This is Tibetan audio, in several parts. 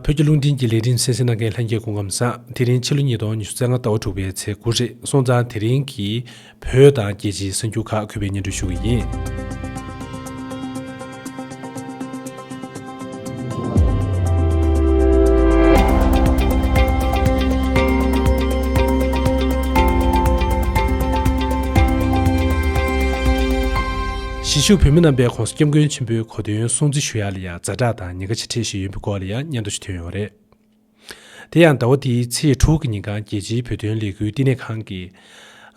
བོད་ཀྱི་རླུང་འཕྲིན་གྱི་ལས་རིམ་གསན་སྲིད་གནང་མཁན་ལྷན་རྒྱས་སྐུ་ངམ་ས་དེ་རིང་ཕྱི་ལོ་ཉིས་སྟོང་ཉི་ཤུ་རྩ་ལྔ་ཟླ་བ་དྲུག་པའི་ཚེས་དགུ་རེད་སོང་ཙང་དེ་རིང་གི་བོད་དང་རྒྱལ་སྤྱིའི་གསར་འགྱུར་ཁག་གུས་པའི་སྙན་སྒྲོན་ཞུ་གི་ཡིན། གཞིས་བཞུགས་བོད་མི་རྣམ་པའི་གོང་ས་སྐྱབས་མགོན་ཆེན་པོའི་གོ་སྟོན་སྲུང་བརྩི་ཞུ་ཡ་ལ་ཡང་རྫ་བྲག་དང་ཉེ་དགའ་ཆེ་ཁྲི་ཞིག་ཡོད་པའི་སྐོར་ལ་ཡང་སྙན་ཐོ་ཞིག་ཐོན་ཡོད་པ་རེད། དེ་ཡང་ཟླ་བ་འདིའི་ཚེས་དྲུག་གི་ཉིན་གང་རྒྱལ་སྤྱིའི་བོད་དོན་ལས་འགུལ་བསྟི་གནས་ཁང་གིས།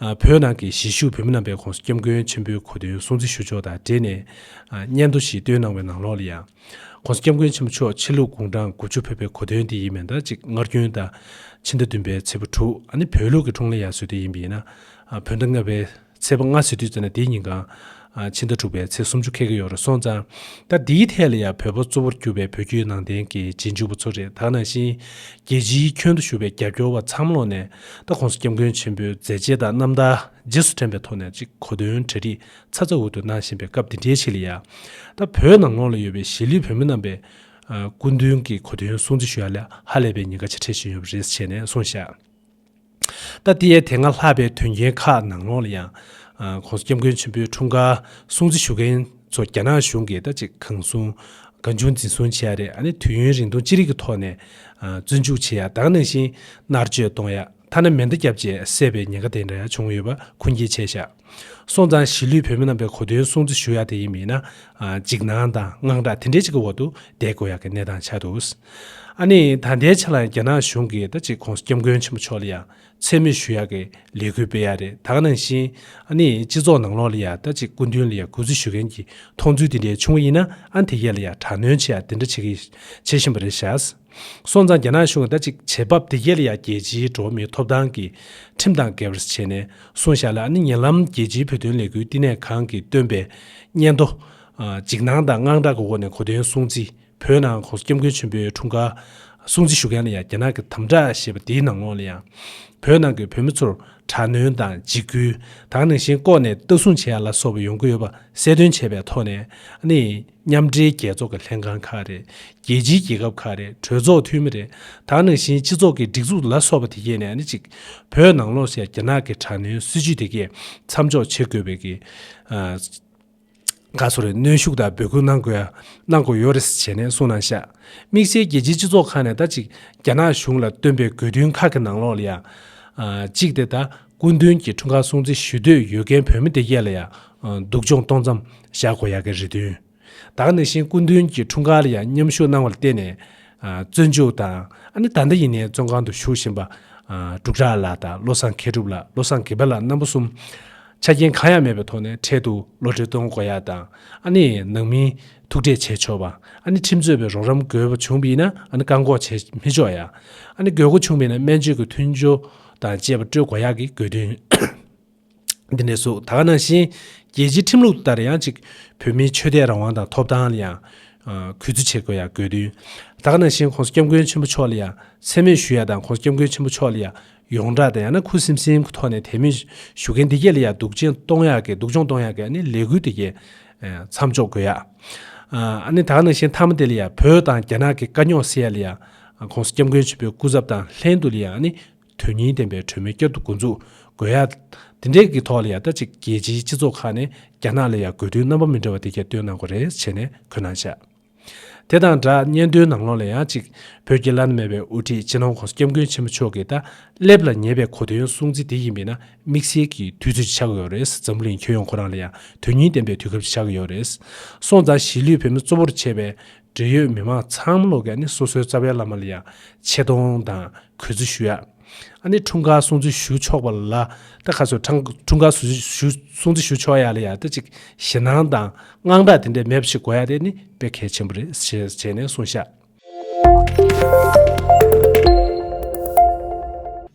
བོད་ནང་གི་གཞིས་བཞུགས་བོད་མི་རྣམ་པའི་ཁོངས་སུ་སྐྱབས་མགོན་ཆེན་པོའི་གོ་དོན་སྲུང་བརྩི་ཞུ་ཕྱོགས་དང་འབྲེལ་ནས། སྙན་ཐོ་ཞིག་བཏོན་གནང་བའི་ནང་ལོགས་ལ་ཡང། ཁོང་སྐྱབས་མགོན་ཆེན་པོ་མཆོག་ཕྱི་ལུགས་དགུང་གྲངས་དགུ་བཅུ་ཕེབས་པའི་གོ་དོན་འདི་ཡིན་མིན་དང་གཅིག་སྔར་རྒྱུན་ལྟར། ཕྱི་ཟླ་བདུན་པའི་ཚེས་བུ་དྲུག་ནི་བོད་ལུགས་ཀྱི་འཁྲུངས་ལེན་ཡར་ཟོས་དུས་ཡིན་པས་ན། བོད་ཟླ་ལྔ་པའི། ཚེས་པ་ལྔ་ཟེར་དུས་ཙམ་ལ་དེའི་ཉིན་གང། ཕྱི་ཟླ་དྲུག་པའི་ཚེས་སུམ་ཅུ་ཁལ་གྱི་ཡོང་རེ་སོང་ཙང། ཟླ་འདིའི་ཐད་ལ་ཡང་བོད་པ་གཙོ་བོར་གྱུར་པའི་བོད་བརྒྱུད་ནང་བསྟན་གྱི་རྗེས་འཇུག་པ་ཚོ་རེ་དྭགས་ནང་བཞིན། རྒྱལ་སྤྱིའི་ཁྱོན་དུ་བཞུགས་པའི་རྒྱབ་སྐྱོར་བ་མཚམས་ལོག་ནས། ད་གོང་ས་སྐྱབས་མགོན་ཆེན་པོའི་མཛད་རྗེས་དང་རྣམ་ཐར་རྗེས་སུ་དྲན་པའི་ཐོག་ནས་ཅིག་གོ་དོན་གྲ་སྒྲིག་ཚ་ཚ་འུར་དུ་གནང་བཞིན་པའི་སྐབས་འདི་འདྲའི་ཆེད་ལ་ཡང། ད་བོད་ནང་ལོགས་ལ་ཡོད་པའི་གཞིས་ལུས་བོད་མི་རྣམས་པའི། སྐུ་མདུན་གྱི་གོ་དོན་སྲུང་བརྩི་ཞུ་ཡ་ལ་ཧ་ལས་པའི་ཉེན་ཁ་ཆེ་ཕྲད་བྱུང་ཡོད་པ་རེད་བྱས་ནས་གསུངས་བཞག། ད་ལྟའི་དེ་སྔ་ལྷག་པའི་དོན་རྐྱེན་ཁག་ནང་ལོགས་ལ་ཡང། ཁོང་ཚོ་སྐྱབས་མགོན་ཆེན་པོའི་འཁྲུངས་སྐར་སྲུང་བརྩི་ཞུ་མཁན་ཚོ་རྒྱ་ནག་གཞུང་གིས་ད་ཅི་གང་གསུངས་གང་བྱུང་འཛིན་བཟུང་བྱེད་ཡ་རེད་ཨ་ནི་དུས་ཡུན་རིང་ཐུང་ཅི་རིགས་ཀྱི་ཐོག་ནས་བཙོན་འཇུག་བྱེད་ཡ་དང་ནང་བཞིན་མནར་གཅོད་གཏོང་ཡ་ཐ་ན་མེ་མདའ་བརྒྱབ་བཅས་བསད་པའི་ཉེན་ཁ་དེ་འདྲ་ཡང་བྱུང་ཡོད་པ་ཁུངས་སྐྱེལ་བྱས་ཤག། སོང་ཙང་གཞིས་ལུས་བོད་མི་རྣམས་པའི་གོ་དོན་སྲུང་བརྩི་ཞུ་ཡག་དེ་ཡིན་མིན་ན། འཇིགས་སྣང་དང་དངངས་སྐྲག་དེ་འདྲའི་ཅིག་གི་འོག་ཏུ་བསྡད་དགོས་ཡག་གི་གནས་སྟངས་ཆགས་འདུག་ཨ་ནི་ད་ལྟའི་ཆ་ལ་རྒྱ་ནག་གཞུང་གིས་ད་ཅིག་ཁོང་སྐྱབས་མགོན་ཆེན་པོ་མཆོག་ལ་ཡང་མཚན་སྨོད་ཞུ་ཡག་གི་ལས་འགུལ་སྤེལ་ཡག་རེད་ད་ག་ནང་བཞིན་ཨ་ནི་སྤྱི་ཚོགས་ནང་ལོག་ལ་ཡང་ད་ཅིག་སྐུ་མདུན་ལ་ཡང་གུས་བརྩི་ཞུ་མཁན་གྱི་མཐོང་ཚུལ་དེ་འདྲའི་བྱུང་བ་ཡིན་ན་ཨ་ནི་དེ་ཡས་ལ་ཡང་དྲག་གནོན་ཆེ་ཡག་དེ་འདྲ་བྱེད་བཞིན་པ་རེད་ཤག་སོང་ཙང་རྒྱ་ནག་གཞུང་གིས་ཟླ་གཅིག་བྱེད་བབ་དེ་ཡལ་ཡ་རྒྱལ་སྤྱིའི་འགྲོ་བ་མིའི་ཐོབ་ཐང་གི་ཁྲིམས་དང་འགལ་བར་བྱས་ནས་སོང་ཞག་ལ་ཨ་ནི་ཉེ་ལམ་རྒྱལ་སྤྱིའི་བོད་དོན་ལས་འགུལ་བསྟི་གནས་ཁང་གིས་བཏོན་པའི་སྙན་ཐོ། འཇིགས་སྣང་དང་དངངས་སྐྲག་གི་འོག་ནས་གོ་དོན་སྲུང་བརྩི་བོད་ནང་གོང་ས་སྐྱབས་མགོན་ཆེན་པོའི་འཁྲུངས་སྐར་སྲུང་བརྩི་ཞུ་མཁན་ལ་ཡང་རྒྱ་ནག་གི་དམ་དྲག་ཞེས་པ་དེའི་ནང་ལོགས་ལ་ཡང། བོད་ནང་གི་བོད་མི་ཚོར་དྲག་གནོན་དང་འཇིགས་སྐུལ། དྭངས་ནང་བཞིན་ལྐོག་ནས་ལྟ་སྲུང་བྱས་ཡ་ལ་སོགས་པ་ཡོང་གི་ཡོད་པ་གསལ་སྟོན་བྱས་པའི་ཐོག་ནས་ཨ་ནི། མཉམ་འབྲེལ་རྒྱལ་ཚོགས་ཀྱི་ལྷན་ཁང་ཁག་རེད། རྒྱལ་སྤྱིའི་རྒྱལ་ཁབ་ཁག་རེད། གྲོས་ཚོགས་འཐུས་མི་རེད། དང་ནང་བཞིན་སྤྱི་ཚོགས་ཀྱི་སྒྲིག་འཛུགས་ལ་སོགས་པ་དེ་གས་ནས་ཨ་ནི་གཅིག། བོད་ནང་ལོགས་ཤ་རྒྱ་ནག་གི་དྲག་གནོན་སྲིད་ཇུས་དེ་གས་མཚམས་འཇོག་བྱེད་དགོས་པའི་གི། ག་སོ་རེད་གནོན་ཤུགས་དང་འབོད་སྐུལ་གནང་དགོས་ཡ། གནང་དགོས་ཡོད་རེད་བྱས་ནས་གསུངས་གནང་ཤ། དམིགས་བསལ་རྒྱལ་སྤྱིའི་སྤྱི་ཚོགས་ཁག་ནས་ད་གཅིག་རྒྱ་ནག་གཞུང་ལ་བཏོན་པའི་དགོས་འདུན་ཁག་གི་ནང་ལོགས་ལ་ཡ། གཅིག་དེ་ད། སྐུ་མདུན་གྱི་འཁྲུངས་སྐར་སྲུང་བརྩི་ཞུ་འདོད་ཡོད་མཁན་བོད་མི་དེ་ཡས་ལ་ཡང་སྡུག་སྦྱོང་གཏོང་མཚམས་བཞག་དགོས་ཡག་གི་རེད་དོན་དག་ནི་བཞིན་སྐུ་མདུན་གྱི་འཁྲུངས་སྐར་ལ་ཡང་མཉམ་ཞུགས་གནང་བ་ལ་བརྟེན་ནས་བཙོན་འཇུག་དང་ཨ་ནི་ད་ལྟ་ཡིན་ནའི་བཙོན་ཁང་དུ་བཞུགས་བཞིན་པ་འབྲུག་གྲགས་ལགས་དང་བློ་བཟང་མཁས་གྲུབ་ལགས་བློ་བཟང་གིབ་ལགས་རྣམ་པ་གསུམ་ཆ་རྐྱེན་གང་ཡང་མེད་པའི་ཐོག་ནས་འཕྲལ་དུ་བློ་འདྲི་གཏོང་དགོས་ཡག་དང་ཨ་ནི་ནང་མིའི་ཐུག་འཕྲད་བྱས་ཆོག་པ་ཨ་ནི་ཁྲིམས་རྩོད་པའི་རོགས་རམ་དགོས་པ་བྱུང་བས་ན་ཨ་ནི་བཀག་འགོག་བྱས་མི་ཆོག་ཡག་ཨ་ནི་དགོས་མཁོ་བྱུང་བས་ན་སྨན་བཅོས་ཀྱི་མཐུན་སྦྱོར་དང་བཅས་པ་སྤྲོད་དགོས་ཡག་གི་དགོས་དོན། འདི་ནས་བཟུང་ད་ག་ནང་བཞིན་རྒྱལ་སྤྱིའི་ཁྲིམས་ལུགས་ལྟར་ཡང་གཅིག་བོད་མིའི་ཆོས་དད་རང་དབང་དང་ཐོབ་ཐང་ལ་ཡང་གུས་བརྩི་བྱེད་དགོས་ཡག་དགོས་དོན། ད་ག་ནང་བཞིན་ཁོང་སྐྱབས་མགོན་ཆེན་པོ་མཆོག་ལ་ཡང་མཚན་སྨོད་ཞུ་ཡག་དང་ཁོང་སྐྱབས་མགོན་ཆེན་པོ་མཆོག་ལ་ཡང་ཡོངས་གྲགས་དང་ཡང་ན་ཁུ་སིམ་སིམ་གི་ཐོག་ནས་དད་མོས་ཞུ་མཁན་དེ་གས་ལ་ཡང་སྡུག་ཅན་གཏོང་ཡག་གི་སྡུག་སྦྱོང་གཏོང་ཡག་གི་ཨ་ནི་ལས་འགུལ་དེ་གས་མཚམས་འཇོག་དགོས་ཡག། ཨ་ནི་ད་ག་ནང་བཞིན་མཐའ་མ་དེ་ལ་ཡང་བོད་དང་རྒྱ་ནག་གི་དཀའ་རྙོག་སེལ་ཡག་ལ་ཡང་ཁོང་སྐྱབས་མགོན་ཆེན་པོའི་སྐུ་ཚབ་དང་ལྷན་དུ་ལ་ཡང་ནི་དོན་སྙིང་ལྡན་པའི་གྲོས་མོལ་བསྐྱར་དུ་འགོ་འཛུགས་དགོས་ཡ། དེ་འབྲེལ་གྱི་ཐོག་ལ་ཡང་ད་ཅིག་རྒྱལ་སྤྱིའི་སྤྱི་ཚོགས་ཁག་ནས་རྒྱ་ནག་ལ་ཡང་དགོས་འདུན་རྣམ་པ་མི་འདྲ་བ་དེ་གྱ་སྟོན་གནང་དགོས་རེད་བྱས་ནས་འཁོད་གནང་བྱ། དེ་དང་སྦྲགས་སྙན་ཐོའི་ནང་ལོགས་ལ་ཡང་ཅིག་བོད་ཀྱི་བླ་ན་མེད་པའི་དབུ་ཁྲིད་སྤྱི་ནོར་ཁོང་སྐྱབས་མགོན་ཆེན་པོ་མཆོག་གིས་ད་སླེབས་ལ་ཉེ་བའི་གོ་དོན་གསུང་ཚིག་དེ་ཡིན་པས་ན་དམིགས་བསལ་གྱི་དུས་ཚོད་ཅིག་ཆགས་ཀྱི་ཡོད་རེད་འཛམ་བུ་གླིང་ཁྱོན་ཡོངས་ཁོ་རང་ལ་ཡང་དོན་སྙིང་ལྡན་པའི་དུས་སྐབས་ཅིག་ཆགས་ཀྱི་ཡོད་རེད་སོང་ཙང་གཞིས་ལུས་བོད་མི་གཙོ་བོར་བྱས་པའི་འབྲེལ་ཡོད་མི་མང་ཚང་མ་ལོག་གི་ཨ་ནི་སོ་སོའི་རྩ་བའི་བླ་མ་ལ་ཡང་ཆེ་མཐོང་དང་གུས་བརྩི་ཞུ་ཡག་ཨ་ནི་འཁྲུངས་སྐར་སྲུང་བརྩི་ཞུ་ཆོག་པ་ལ་ད་ག་ཚོད་འཁྲུངས་སྐར་སྲུང་བརྩི་ཞུ་ཆོག་ཡག་ལ་ཡག་ད་ཅིག་ཞེ་སྣང་དང་དངངས་སྐྲག་དེ་འདྲས་མེད་པ་ཞིག་གོ་ཡག་དེ་ཨ་ནི་དཔེ་གལ་ཆེན་པོ་རེད་ཞེས་བྱས་ནས་གསུངས་ཤག།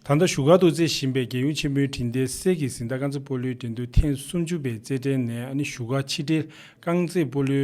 ད་ལྟ་བཞུགས་སྒར་དུ་རྩེ་བཞིན་པའི་རྒྱལ་ཡུམ་ཆེན་པོའི་དྲིན་དེ་གསེར་གྱི་གཟི་མདངས་དཀར་མཛེས་སྤོ་ལོའི་འགྲན་བསྡུར་ཐེངས་སུམ་ཅུ་པའི་རྩེད་འགྲན་ནས་ཨ་ནི་བཞུགས་སྒར་ཕྱི་དྲིལ་རྐང་རྩེད་སྤོ་ལོའི་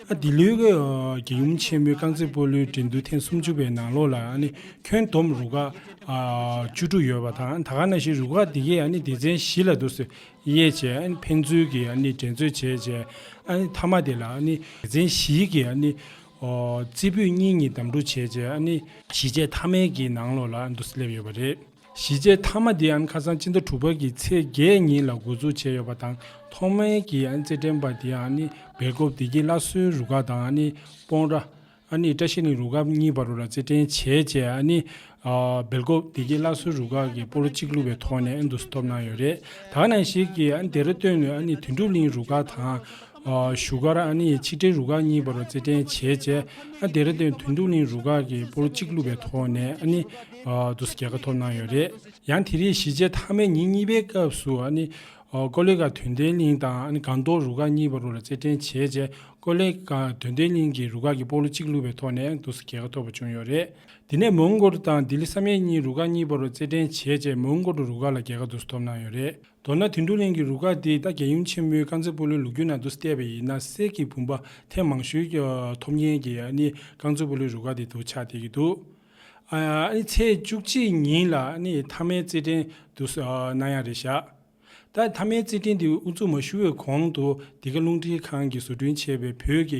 འདི་ལོའི་རྒྱལ་ཡུམ་ཆེན་མོའི་རྐང་རྩེད་སྤོ་ལོའི་འགྲན་བསྡུར་ཐེངས་སུམ་ཅུ་པའི་ནང་ལོ་ལ་ཁྱོན་བསྡོམས་རུ་ཁག་བཅུ་དྲུག་ཡོད་པ་དང་ད་ག་ན་ཤི་རུ་ཁག་དེ་གས་སྡེ་ཚན་བཞི་ལ་དུར་སེལ་གཡས་བཅས་ཕན་ཚུན་གྱི་འགྲན་རྩོད་བྱས་རྗེས་མཐའ་མ་དེ་ལ་སྡེ་ཚན་བཞིའི་གི་རྩེ་ཕུད་གཉིས་གཉིས་བདམས་སྒྲུག་བྱས་རྗེས་གཞིས་བྱེས་མཐའ་མའི་གི་ནང་ལོ་ལ་དུར་སེལ་སླེབས་ཡོད་པ་རེད། གཞིས་བྱེས་མཐའ་མ་འདི་ཨན་ཁ་སང་སྤྱི་ཟླ་དྲུག་པ་ཀྱི་ཚེས་བརྒྱད་ཉིན་ལ་འགོ་འཛུགས་བྱས་ཡོད་པ་དང་ཐོག་མའི་གི་ཨན་རྩེད་འགྲན་པ་དེ་ཨན་ནི་སྦེལ་ཀོབ་བདེ་སྐྱིད་བླ་སྲོལ་རུ་ཁག་དང་ཨན་ནི་སྤོང་ར། ཨན་ནི་བཀྲ་ཤིས་གླིང་རུ་ཁག་གཉིས་བར་རུ་ལ་རྩེད་འགྲན་བྱས་རྗེས་ཨན་ནི། སྦེལ་ཀོབ་བདེ་སྐྱིད་བླ་སྲོལ་རུ་ཁག་གིས་སྤོ་ལོ་གཅིག་བསླུ་བའི་ཐོག་ནས་ཨན་དུ་སི་ཐོབ་གནང་ཡོད་རེད། དག་ནང་ཞིག་གིས་ཨན་དེ་ར་སྟོད་ནས་ཨན་ནི་དོན་གྲུབ་གླིང་རུ་ཁག་དང། བཞུགས་སྒར་ཨ་ནེའི་ཕྱི་དྲིལ་རུ་ཁག་གཉིས་པར་རྩེད་འགྲན་བྱས་རྗེས་རྡེ་ར་ལྡུན་དོན་གྲུབ་གླིང་རུ་ཁག་གིས་པོར་གཅིག་བླུས་པའི་ཐོག་ནས་ཨ་ནེ་དུ་རྒྱལ་ཁ་ཐོབ་གནང་ཡོད་རེད། ཡང་དེ་རིང་གཞིས་བྱེས་མཐའ་མའི་ཉིན་གཉིས་པའི་སྐབས་སུ་ཨ་ནེ། ཀོ་ལེ་ཀ་དོན་ལྡན་གླིང་དང་ཨ་ནེ་སྒང་ཏོག་རུ་ཁག་གཉིས་པར་རྩེད་འགྲན་བྱས་རྗེས་ཀོ་ལེ་ཀ་དོན་ལྡན་གླིང་གི་རུ་ཁག་གིས་པོར་གཅིག་བླུས་པའི་ཐོག་ནས་དུ་རྒྱལ་ཁ་ཐོབ་པ་བྱུང་ཡོད་རེད། དེ་ནས་མོང་གོལ་དང་ལྡི་ལི་བསམ་ཡས་གཉིས་རུ་ཁག་གཉིས་པར་རྩེད་འགྲན་བྱས་རྗེས་མོང་གོལ་རུ་ཁག་ལ་རྒྱལ་ཁ་དུ་ཐོབ་གནང་ཡོད་རེད། མདོར་ན་དུད་འགྲོ་གླིང་གི་རུ་ཁག་འདིས་རྟ་རྒྱལ་ཡུམ་ཆེན་མོའི་དཀར་མཛེས་སྤོ་ལོའི་ལུགས་རྒྱུན་ནང་དུ་བསྟད་པ་ཡིན་ན་གསེར་གྱི་བུམ་པ་ཐེངས་མང་ཞུས་ཐོབ་མཁན་གྱི་ཨ་ནི་རྐང་མཛེས་སྤོ་ལོའི་རུ་ཁག་འདི་དུ་ཆ་བསྡད་ཀྱི་འདུག་ཨ་ནི་ཚེས་བཅུ་གཅིག་ཉིན་ལ་ཨ་ནི་མཐའ་མའི་རྩེད་འགྲན་དུ་སྣང་ཡང་རེད་བཞག་ད་མཐའ་མའི་རྩེད་འགྲན་འདི་དབུ་འཛུགས་མ་ཞུ་བའི་གོང་དུ་འདི་ག་རླུང་འཕྲིན་ཁང་གིས་བཟོ་སྐྲུན་བྱས་པའི་བོད་ཀྱི་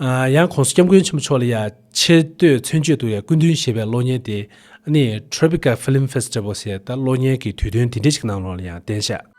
ཡང་ཁོང་སྐྱབས་མགོན་ཆེན་པོ་མཆོག་ལ་ཡང་ཆེ་བསྟོད་མཚོན་བརྗོད་དུ་ཡང་སྐུ་མདུན་ཞེས་པའི་གློག་བརྙན་དེ་ནི Tropica Film Festival ཞེས་ད་གློག་བརྙན་གྱི་དུས་སྟོན་དེ་འདྲ་ཞིག་གནང་རོགས་ལ་ཡང་བསྟན་ཤག།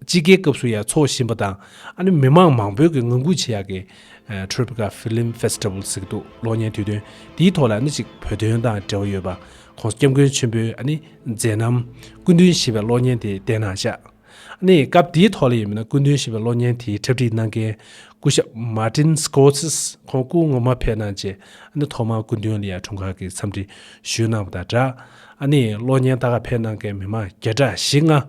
དཔྱིད་ཀའི་སྐབས་སུ་ཡང་འཚོགས་བཞིན་པ་དང། ཨ་ནི་མི་མང་མང་པོས་ཀྱིས་ངང་སྒུག་བྱེད་ཡག་གི། Tribeca Film Festival། ཟེར་གི་འདུག་གློག་བརྙན་དུས་སྟོན་དེའི་ཐོག་ལ་ཨ་ནི་གཅིག་བོད་དོན་དང་འབྲེལ་བ་ཡོད་པ། ཁོང་སྐྱབས་མགོན་ཆེན་པོའི་ཨ་ནི་མཛད་རྣམ། སྐུ་མདུན་ཞེས་པའི་གློག་བརྙན་དེ་བལྟས་ན་ཤག། ཨ་ནི་སྐབས་དེའི་ཐོག་ལ་ཡིན་མིན་ན་སྐུ་མདུན་ཞེས་པའི་གློག་བརྙན་དེའི་འཁྲབ་ཁྲིད་གནང་མཁན། སྐུ་ཞབས Martin Scotts ཁོང་སྐུ་ངོ་མ་ཕེབས་གནང་རྗེས་ཨ་ནི་ཐོག་མར་སྐུ་མདུན་ལ་ཡར་ཐོན་ཁང་གི་འཚམས་འདྲི་ཞུས་གནང་བ་དང་སྦྲགས། ཨ་ནི་གློག་བརྙན་དག་ལ་ཕེབས་གནང་མཁན་མི་མང་བརྒྱ་ཕྲག་བཞི་ལྔ།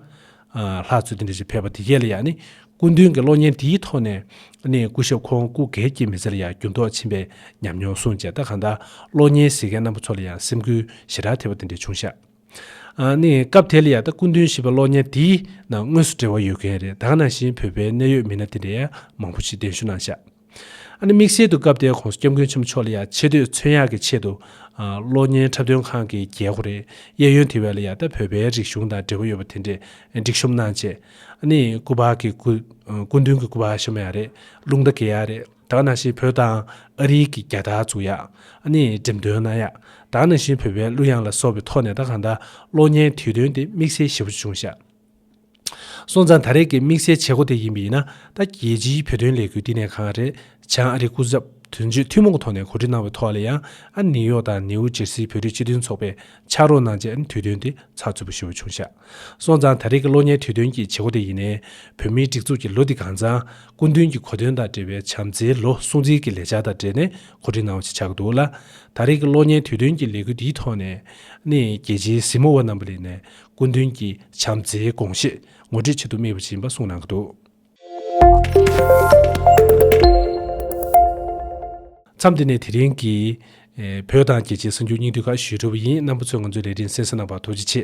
ལྷ་ཚོས་དེ་འདྲ་ཞིག་ཕེབས་པ་དེ་གས་ལ་ཡང་ནི་སྐུ་མདུན་གྱི་གློག་བརྙན་དེའི་ཐོག་ནས་ནི་སྐུ་ཞབས་ཁོང་སྐུ་འགས་སྐྱེ་མི་ཚེ་ལ་ཡང་འགྱུར་ལྡོག་ཕྱིན་པའི་ཉམས་མྱོང་གསུངས་བྱས་ད་གང་ལྟར་གློག་བརྙན་གཟིགས་མཁན་རྣམ་པ་ཚོ་ལ་ཡང་སེམས་འགུལ་ཞེ་དྲག་ཐེབས་པ་དེ་འདྲ་བྱུང་ཤག་ནི་སྐབས་དེ་ལ་ཡང་ད་སྐུ་མདུན་ཞེས་པའི་གློག་བརྙན་དེའི་ནང་དངོས་སུ་འབྲེལ་བ་ཡོད་མཁན་རེད་ད་གང་ནང་བཞིན་བོད་པའི་གནད་ཡོད་མི་སྣ་དེ་འདྲ་ཡང་མང་པོ་ཞིག་གདན་ཞུ་གནང་ཤག། ཨ་ནི་དམིགས་བསལ་དུ་སྐབས་དེའི་ཁོང་སྐྱབས་མགོན་ཆེན་པོ་མཆོག་ལ་ཡང་ཆེ་བསྟོད་མཚོན་ཡག་གི་ཆེད་དུ། གློག་བརྙན་འཁྲབ་སྟོན་ཁང་གི་རྒྱལ་ཁོ་རེད་གཡས་གཡོན་དེ་བས་ལ་ཡང་ད་བོད་པའི་རིག་གཞུང་དང་འབྲེལ་བ་ཡོད་པ་དེ་འདྲས་སྒྲིག་གཤོམ་གནང་ཆེད་ཨ་ནི་སྐུ་འབག་གི་སྐུ། སྐུ་མདུན་གི་སྐུ་འབག་ཤ་མོ་ཡག་རེད་རླུང་རྟ་གེ་ཡག་རེད་ད་ནང་བཞིན་བོད་དང་ཨ་རིའི་གི་རྒྱ་དར་བཙུགས་ཡག་ཨ་ནི་འགྲེམས་སྟོན་གནང་ཡག་ད་ནང་བཞིན་བོད་པའི་གླུ་དབྱངས་ལ་སོགས་པའི་ཐོག་ནས་ད་གང་ད་གློག་བརྙན་དེའི་དོན་དེ་དམིགས་བསལ་ཞེ་བོ་ཅུང་ཤ། སོང་ཙང་ད་རེས་ཀྱི་དམིགས་བསལ་བྱེད་སྒོ་དེ་ཡིན་པས་ན་ད་རྒྱལ་སྤྱིའི་བོད་དོན་ལས་འགུལ་བསྟི་གནས་ཁང་རེཆང་ཨ་རིའི་སྐུ་ཚབ་དོན་གཅོད་ཐུན་མོང་གི་ཐོག་ནས་གོ་སྒྲིག་གནང་བའི་ཐོག་ལ་ཡང་ཨ་ནིའུ་ཡོག་དང་ནིའུ་ཇེར་སི་བོད་རིགས་སྤྱི་མཐུན་ཚོགས་པས་ཕྱག་རོགས་གནང་རྗེས་དུས་སྟོན་དེ་ཚགས་ཚུད་པོ་ཞུ་བ་བྱུང་ཤག་སོང་ཙང་ད་རེས་ཀྱི་གློག་བརྙན་དུས་སྟོན་གྱི་བྱེད་སྒོ་དེ་ཡིན་ནས་བོད་མིའི་སྒྲིག་འཛུགས་ཀྱི་ལོ་འདི་གང་ཙང་སྐུ་མདུན་གྱི་གོ་སྟོན་དང་འབྲེལ་བའི་བྱམས་བརྩེའི་ལོ་སྲུང་བརྩི་གྱི་ལས་འཆར་དང་འབྲེལ་ནས་གོ་སྒྲིག་གནང་བ་ཞིག་ཆགས་ཀྱི་འདུག་ལ། ད་རེས་ཀྱི་གློག་བརྙན་དུས་སྟོན་གྱི་ལས་འགུལ་འདིའི་ཐོག་ནས་ནི་རྒྱལ་སྤྱིའི་གཟིགས་མོ་བ་རྣམ་པ་ལས་ནས་སྐུ་མདུན་གྱི་བྱམས་བརྩེའི་དགོངས་བཞེད་ངོ་སྤྲོད་བྱེད་དུ་དམིགས་པ་བྱིན་པ་གསུངས་གནང་གི་འདུག། མཚམས་འདི་ནས་དེ་རིང་གི། བོད་དང་རྒྱལ་སྤྱིའི་གསར་འགྱུར་སྙིང་བསྡུས་ཁག་ཞུས་གྲུབ་པ་ཡིན་རྣམ་པ་ཚོས་ང་ཚོའི་ལས་འབྲེལ་མཚན་ས་གནང་བར་ཐུགས་རྗེ་ཆེ།